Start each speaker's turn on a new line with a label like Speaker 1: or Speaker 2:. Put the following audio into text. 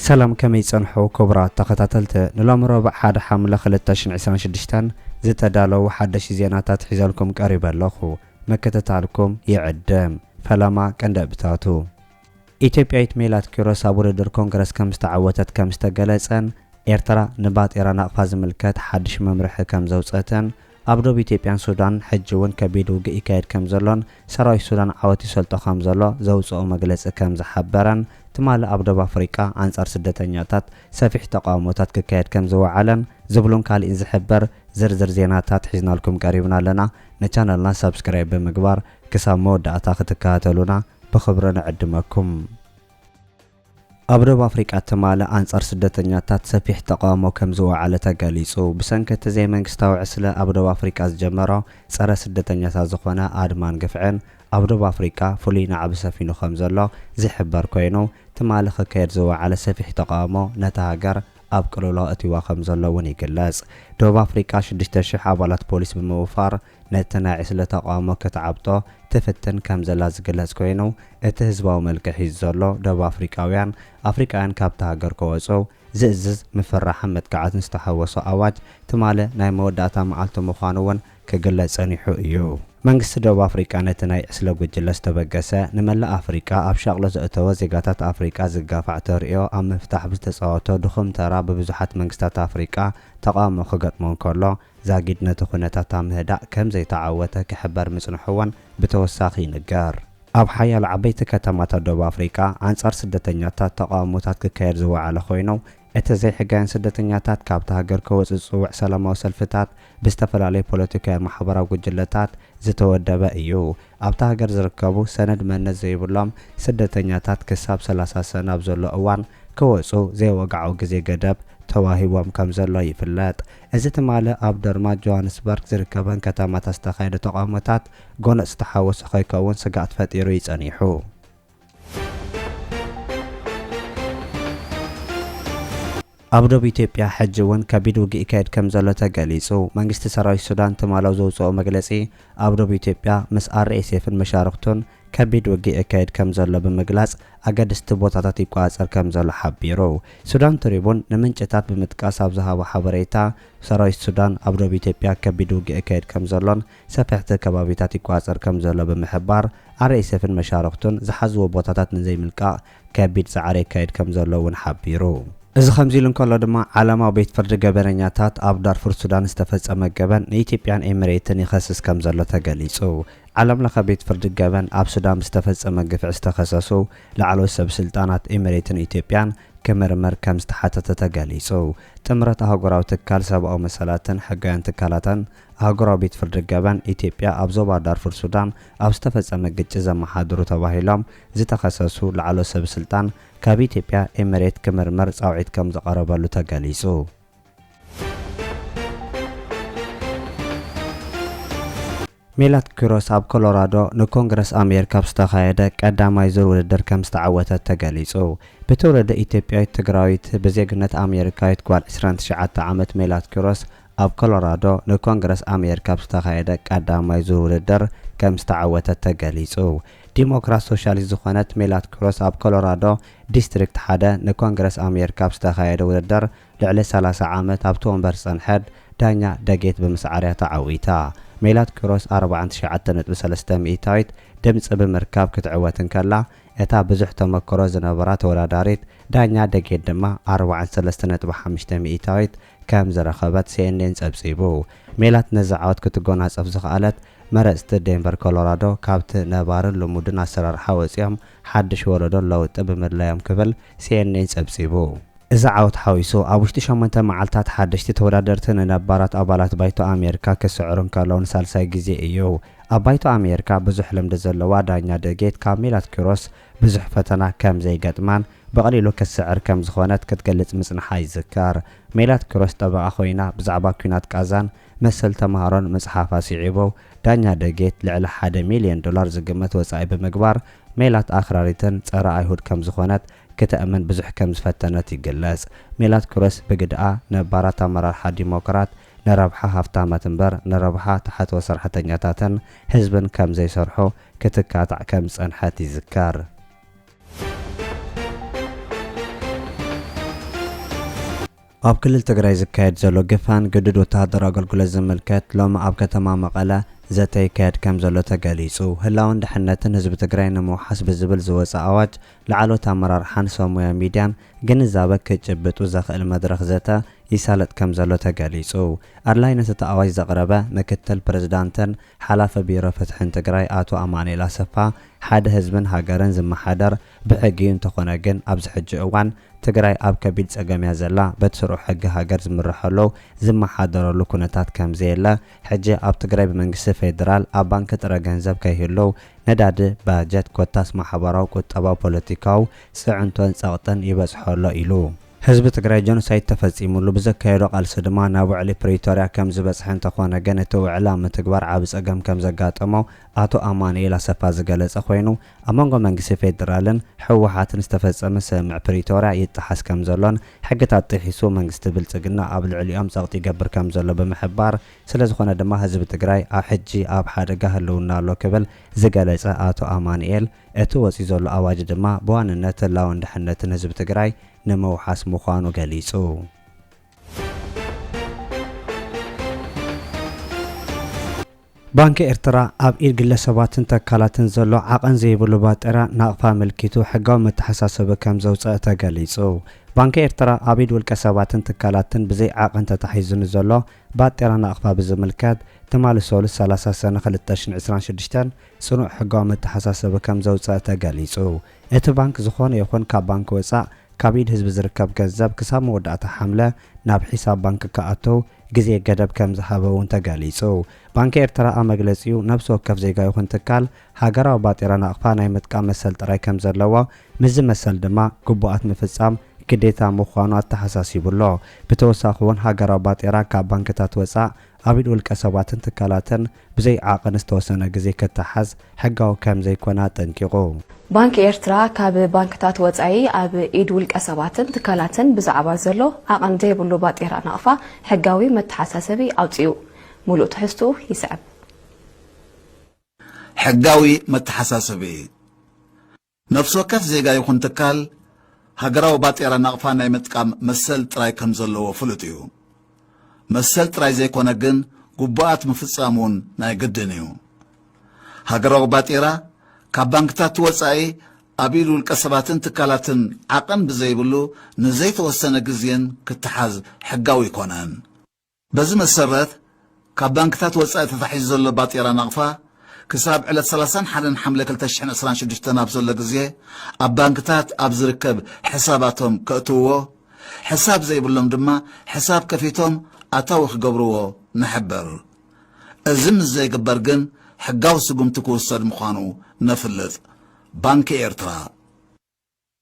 Speaker 1: ሰላም ከመይ ጸንሑ ክቡራት ተኸታተልቲ ንሎሚ ሮብዕ ሓደ ሓምለ ክልተ ሽሕን ዕስራን ሽዱሽተን ዝተዳለዉ ሓደሽቲ ዜናታት ሒዘልኩም ቀሪበ ኣለኹ ምክትታልኩም ይዕድም ፈለማ ቀንደብታቱ ኢትዮጵያዊት ሜላት ኪሮስ ኣብ ውድድር ኮንግረስ ከም ዝተዓወተት ከም ዝተገለጸን ኤርትራ ንባጤራ ናቕፋ ዝምልከት ሓድሽ መምርሒ ከም ዘውጸትን ኣብ ዶብ ኢትዮጵያን ሱዳንን ሕጂ እውን ከቢድ ውግእ ይካየድ ከም ዘሎን ሰራዊት ሱዳን ዓወት ይሰልጦ ከም ዘሎ ዘውጽኦ መግለጺ ከም ዝሓበረን ትማሊ ኣብ ዶብ ኣፍሪቃ ኣንጻር ስደተኛታት ሰፊሕ ተቓውሞታት ክካየድ ከም ዝወዓለን ዝብሉን ካሊእን ዝሕበር ዝርዝር ዜናታት ሒዝናልኩም ቀሪብና ኣለና ንቻነልና ሳብስክራይብ ብምግባር ክሳብ መወዳእታ ክትከታተሉና ብኽብሪ ንዕድመኩም። ኣብ ደቡብ ኣፍሪቃ ትማሊ ኣንጻር ስደተኛታት ሰፊሕ ተቓውሞ ከም ዝወዓለ ተገሊጹ። ብሰንኪ እቲ ዘይመንግስታዊ ዕስለ ኣብ ደቡብ ኣፍሪቃ ዝጀመሮ ጸረ ስደተኛታት ዝኾነ ኣድማን ግፍዕን ኣብ ደቡብ ኣፍሪቃ ፍሉይ ናዕቢ ሰፊኑ ከም ዘሎ ዝሕበር ኮይኑ ትማሊ ክካየድ ዝወዓለ ሰፊሕ ተቓውሞ ነታ ሃገር ኣብ ቅልውላው ኣእትይዋ ከም ዘሎ እውን ይግለጽ። ደቡብ ኣፍሪቃ ሽዱሽተ ሽሕ ኣባላት ፖሊስ ብምውፋር ነቲ ናይ ዕስለ ተቓውሞ ክትዓብጦ ትፍትን ከም ዘላ ዝግለጽ ኮይኑ፣ እቲ ህዝባዊ መልክዕ ሒዙ ዘሎ፣ ደቡብ ኣፍሪቃውያን፣ ኣፍሪቃውያን ካብታ ሃገር ከወጹ ዝእዝዝ ምፍርራሕን መጥቃዕትን ዝተሓወሶ ኣዋጅ፣ ትማሊ ናይ መወዳእታ መዓልቱ ምዃኑ እውን ክግለጽ ጸኒሑ እዩ። መንግስቲ ደቡብ ኣፍሪቃ ነቲ ናይ ዕስለ ጉጅለ ዝተበገሰ፣ ንመላእ ኣፍሪቃ ኣብ ሻቕሎት ዘእተወ፣ ዜጋታት ኣፍሪቃ ዝጋፋዕ ተርእዮ ኣብ ምፍታሕ ብዝተጻወቶ ድኹም ተራ ብብዙሓት መንግስታት ኣፍሪቃ ተቓውሞ ክገጥሞ እንከሎ፣ ዛጊድ ነቲ ኩነታታ ምህዳእ ከም ዘይተዓወተ ክሕበር ምጽንሑ'ውን ብተወሳኺ ይንገር። ኣብ ሓያሎ ዓበይቲ ከተማታት ደቡብ ኣፍሪቃ ኣንጻር ስደተኛታት ተቓውሞታት ክካየድ ዝወዓለ ኮይኑ፣ እቲ ዘይሕጋውያን ስደተኛታት ካብታ ሃገር ክወጽኡ ዝጽውዕ ሰላማዊ ሰልፍታት ብዝተፈላለዩ ፖለቲካውያን ማሕበራዊ ጉጅለታት ዝተወደበ እዩ። ኣብታ ሃገር ዝርከቡ ሰነድ መንነት ዘይብሎም ስደተኛታት ክሳብ ሰላሳ ሰነ ኣብ ዘሎ እዋን ክወጹ ዘይወግዓዊ ግዜ ገደብ ተዋሂብዎም ከም ዘሎ ይፍለጥ። እዚ ትማሊ ኣብ ደርማን ጆሃንስበርግ ዝርከበን ከተማታት ዝተኻየደ ተቓውሞታት ጎነጽ ዝተሓወሶ ከይከውን ስግኣት ፈጢሩ እዩ ጸኒሑ። ኣብ ዶብ ኢትዮጵያ ሕጂ እውን ከቢድ ውግእ ይካየድ ከምዘሎ ተገሊጹ። መንግስቲ ሰራዊት ሱዳን ትማሎ ዘውጽኦ መግለጺ ኣብ ዶብ ኢትዮጵያ ምስ RSF ን መሻርኽቱን ከቢድ ውግእ የካይድ ከምዘሎ ብምግላጽ ኣገድስቲ ቦታታት ይቆጻጸር ከምዘሎ ሓቢሩ። ሱዳን ትሪቡን ንምንጭታት ብምጥቃስ ኣብ ዝሃቦ ሓበሬታ ሰራዊት ሱዳን ኣብ ዶብ ኢትዮጵያ ከቢድ ውግእ የካይድ ከምዘሎን ሰፈሕቲ ከባቢታት ይቆፃፀር ከም ዘሎ ብምሕባር፣ RSFን መሻርኽቱን ዝሓዝዎ ቦታታት ንዘይምልቃቕ ከቢድ ፃዕሪ የካይድ ከም ዘሎ እውን ሓቢሩ። እዚ ከምዚ ኢሉ እንከሎ ድማ ዓለማዊ ቤት ፍርዲ ገበነኛታት ኣብ ዳርፉር ሱዳን ዝተፈፀመ ገበን ንኢትዮጵያን ኤሚሬትን ይኸስስ ከም ዘሎ ተገሊፁ። ዓለም ለኸ ቤት ፍርዲ ገበን ኣብ ሱዳን ብዝተፈፀመ ግፍዒ ዝተኸሰሱ ላዕለዎት ሰብ ስልጣናት ኤሚሬትን ኢትዮጵያን ክምርምር ከም ዝተሓተተ ተገሊፁ። ጥምረት ኣህጉራዊ ትካል ሰብኣዊ መሰላትን ሕጋውያን ትካላትን ኣህጉራዊ ቤት ፍርዲ ገበን ኢትዮጵያ ኣብ ዞባ ዳርፉር ሱዳን ኣብ ዝተፈጸመ ግጭት ዘመሓድሩ ተባሂሎም ዝተኸሰሱ ላዕለዎት ሰብስልጣን ካብ ኢትዮጵያ ኤምሬት ክምርመር ጻውዒት ከም ዝቐረበሉ ተገሊጹ። ሜላት ኪሮስ ኣብ ኮሎራዶ ንኮንግረስ ኣሜሪካ ኣብ ዝተኻየደ ቀዳማይ ዙር ውድድር ከም ዝተዓወተት ተገሊጹ። ብትውልዲ ኢትዮጵያዊት ትግራዊት ብዜግነት ኣሜሪካዊት ጓል ዕስራን ትሽዓተ ዓመት ሜላት ኪሮስ ኣብ ኮሎራዶ ንኮንግረስ ኣሜሪካ ኣብ ዝተኻየደ ቀዳማይ ዙር ውድድር ከም ዝተዓወተት ተገሊፁ። ዲሞክራት ሶሻሊስት ዝኾነት ሜላት ክሮስ ኣብ ኮሎራዶ ዲስትሪክት ሓደ ንኮንግረስ ኣሜሪካ ኣብ ዝተኻየደ ውድድር ልዕሊ ሰላሳ ዓመት ኣብቲ ወንበር ዝፀንሐት ዳኛ ደጌት ብምስዓር እያ ተዓዊታ። ሜላት ክሮስ ኣርብዓን ትሽዓተን ነጥቢ ሰለስተ ሚኢታዊት ድምፂ ብምርካብ ክትዕወት እንከላ እታ ብዙሕ ተመክሮ ዝነበራ ተወዳዳሪት ዳኛ ደጌት ድማ ኣርብዓን ሰለስተ ነጥቢ ሓምሽተ ሚኢታዊት ከም ዝረኸበት ሲኤንኤን ጸብጺቡ። ሜላት ነዚ ዓወት ክትጎናጸፍ ዝኸኣለት፣ መረጽቲ ዴንቨር ኮሎራዶ ካብቲ ነባርን ልሙድን ኣሰራርሓ ወጺኦም ሓድሽ ወለዶ ለውጢ ብምድላዮም ክብል ሲኤንኤን ጸብጺቡ። እዚ ዓወት ሓዊሱ፣ ኣብ ውሽጢ ሸሞንተ መዓልታት ሓደሽቲ ተወዳደርቲ ንነባራት ኣባላት ባይቶ ኣሜሪካ ክስዕሩ እንከለዉ ንሳልሳይ ግዜ እዩ። ኣብ ባይቶ ኣሜሪካ ብዙሕ ልምዲ ዘለዋ ዳኛ ዶጌት ካብ ሜላት ኪሮስ ብዙሕ ፈተና ከም ዘይገጥማን ብቐሊሉ ክትስዕር ከም ዝዀነት ክትገልጽ ምጽንሓ ይዝከር። ሜላት ኪሮስ ጠበቓ ኰይና ብዛዕባ ኲናት ቓዛን መሰል ተማሃሮን ምጽሓፋ ስዒቡ፣ ዳኛ ደጌት ልዕሊ ሓደ ሚልዮን ዶላር ዝግመት ወጻኢ ብምግባር ሜላት ኣኽራሪትን ጸረ ኣይሁድ ከም ዝዀነት ክተእምን ብዙሕ ከም ዝፈተነት ይግለጽ። ሜላት ኪሮስ ብግደኣ፣ ነባራት ኣመራርሓ ዲሞክራት፣ ንረብሓ ሃፍታማት እምበር ንረብሓ ተሓትወ ሰራሕተኛታትን ህዝብን ከም ዘይሰርሑ ክትካታዕ ከም ዝጸንሐት ይዝከር። ኣብ ክልል ትግራይ ዝካየድ ዘሎ ግፋን ግዱድ ወተሃደራዊ ኣገልግሎት ዝምልከት ሎሚ ኣብ ከተማ መቐለ ዘተ ይካየድ ከም ዘሎ ተገሊጹ። ህላወን ደሕንነትን ህዝቢ ትግራይ ንምውሓስ ብዝብል ዝወጸ ኣዋጅ ላዕለዎት ኣመራርሓን ሰብ ሞያ ሚድያን ግንዛበ ክጭብጡ ዘኽእል መድረኽ ዘተ ይሳለጥ ከምዘሎ ተገሊፁ። ኣድላይነት እቲ ኣዋጅ ዘቕረበ ምክትል ፕሬዝዳንትን ሓላፊ ቢሮ ፍትሕን ትግራይ ኣቶ ኣማኑኤል ኣሰፋ ሓደ ህዝብን ሃገርን ዝመሓደር ብሕጊ ዩ እንተኾነ ግን ኣብዚ ሕጂ እዋን ትግራይ ኣብ ከቢድ ፀገም ያ ዘላ በቲ ስሩዕ ሕጊ ሃገር ዝምረሐሉ ዝመሓደረሉ ኩነታት ከምዘየለ ሕጂ ኣብ ትግራይ ብመንግስቲ ፌደራል ኣብ ባንኪ ጥረ ገንዘብ ከይህልው ነዳዲ፣ ባጀት ኮታስ ማሕበራዊ፣ ቁጠባዊ፣ ፖለቲካዊ ፅዕንቶን ፀቕጥን ይበፅሖ ኣሎ ኢሉ። ህዝቢ ትግራይ ጆኖሳይድ ተፈፂሙሉ ብዘካየዶ ቃልሲ ድማ ናብ ውዕሊ ፕሪቶርያ ከምዝበፅሐ እንተኾነ ግን እቲ ውዕሊ ኣብ ምትግባር ዓብይ ፀገም ከምዘጋጠሞ ኣቶ ኣማኑኤል ኣሰፋ ዝገለፀ ኮይኑ ኣብ መንጎ መንግስቲ ፌደራልን ህወሓትን ዝተፈፀመ ስምምዕ ፕሪቶርያ ይጠሓስ ከምዘሎን ሕግታት ጥሒሱ መንግስቲ ብልፅግና ኣብ ልዕሊኦም ፀቕጢ ይገብር ከምዘሎ ብምሕባር ስለዝኾነ ድማ ህዝቢ ትግራይ ኣብ ሕጂ ኣብ ሓደጋ ህልውና ኣሎ ክብል ዝገለፀ ኣቶ ኣማኑኤል እቲ ወፂኡ ዘሎ ኣዋጅ ድማ ብዋንነት ህላወን ድሕነትን ህዝቢ ትግራይ ንምውሓስ ምዃኑ ገሊፁ። ባንኪ ኤርትራ ኣብ ኢድ ግለሰባትን ተካላትን ዘሎ ዓቐን ዘይብሉ ባጤራ ናቕፋ ኣመልኪቱ ሕጋዊ መተሓሳሰቢ ከም ዘውጸኣ ተገሊጹ። ባንኪ ኤርትራ ኣብ ኢድ ውልቀ ሰባትን ትካላትን ብዘይ ዓቐን ተታሒዙ ንዘሎ ባጤራ ናቕፋ ብዝምልከት ትማሊ ሰሉስ ሰላሳ ሰነ ክልተ ሽሕን ዕስራን ሽዱሽተን ጽኑዕ ሕጋዊ መተሓሳሰቢ ከም ዘውጸኣ ተገሊጹ። እቲ ባንክ ዝኾነ ይኹን ካብ ባንኪ ወፃእ ካብ ኢድ ህዝቢ ዝርከብ ገንዘብ ክሳብ መወዳእታ ሓምለ ናብ ሒሳብ ባንኪ ክኣትው ግዜ ገደብ ከምዝሃበ እውን ተገሊፁ። ባንኪ ኤርትራ ኣብ መግለፂኡ ነብሲ ወከፍ ዜጋ ይኹን ትካል ሃገራዊ ባጤራ ናቕፋ ናይ ምጥቃም መሰል ጥራይ ከምዘለዎ ምስዚ መሰል ድማ ግቡኣት ምፍፃም ግዴታ ምዃኑ ኣተሓሳሲቡ ኣሎ። ብተወሳኺ እውን ሃገራዊ ባጤራ ካብ ባንኪታት ወፃእ ኣብ ኢድ ውልቀ ሰባትን ትካላትን ብዘይ ዓቕን ዝተወሰነ ግዜ ክተሓዝ ሕጋዊ ከምዘይኮነ ኣጠንቂቑ። ባንኪ
Speaker 2: ኤርትራ ካብ ባንክታት ወጻኢ ኣብ ኢድ ውልቀ ሰባትን ትካላትን ብዛዕባ ዘሎ ዓቕን ዘይብሉ ባጤራ ናቕፋ ሕጋዊ መተሓሳሰቢ ኣውጺኡ። ምሉእ ትሕዝትኡ ይስዕብ።
Speaker 3: ሕጋዊ መተሓሳሰቢ እዩ። ነፍሲ ወከፍ ዜጋ ይኹን ትካል ሃገራዊ ባጤራ ናቕፋ ናይ ምጥቃም መሰል ጥራይ ከም ዘለዎ ፍሉጥ እዩ። መሰል ጥራይ ዘይኮነ ግን ግቡኣት ምፍጻም እውን ናይ ግድን እዩ። ሃገራዊ ባጤራ ካብ ባንክታት ወጻኢ ኣብ ኢድ ውልቀ ሰባትን ትካላትን ዓቐን ብዘይብሉ ንዘይተወሰነ ግዜን ክተሓዝ ሕጋዊ ኣይኮነን። በዚ መሰረት ካብ ባንክታት ወፃኢ ተታሒዙ ዘሎ ባጤራ ናቕፋ ክሳብ ዕለት ሰላሳን ሓደን ሓምለ ክልተ ሽሕን ዕስራን ሽዱሽተን ኣብ ዘሎ ግዜ ኣብ ባንክታት ኣብ ዝርከብ ሕሳባቶም ከእትውዎ ሕሳብ ዘይብሎም ድማ ሕሳብ ከፊቶም ኣታዊ ክገብርዎ ንሕብር። እዚ ምስ ዘይግበር ግን ሕጋዊ ስጉምቲ ክውሰድ ምዃኑ ነፍልጥ። ባንኪ ኤርትራ።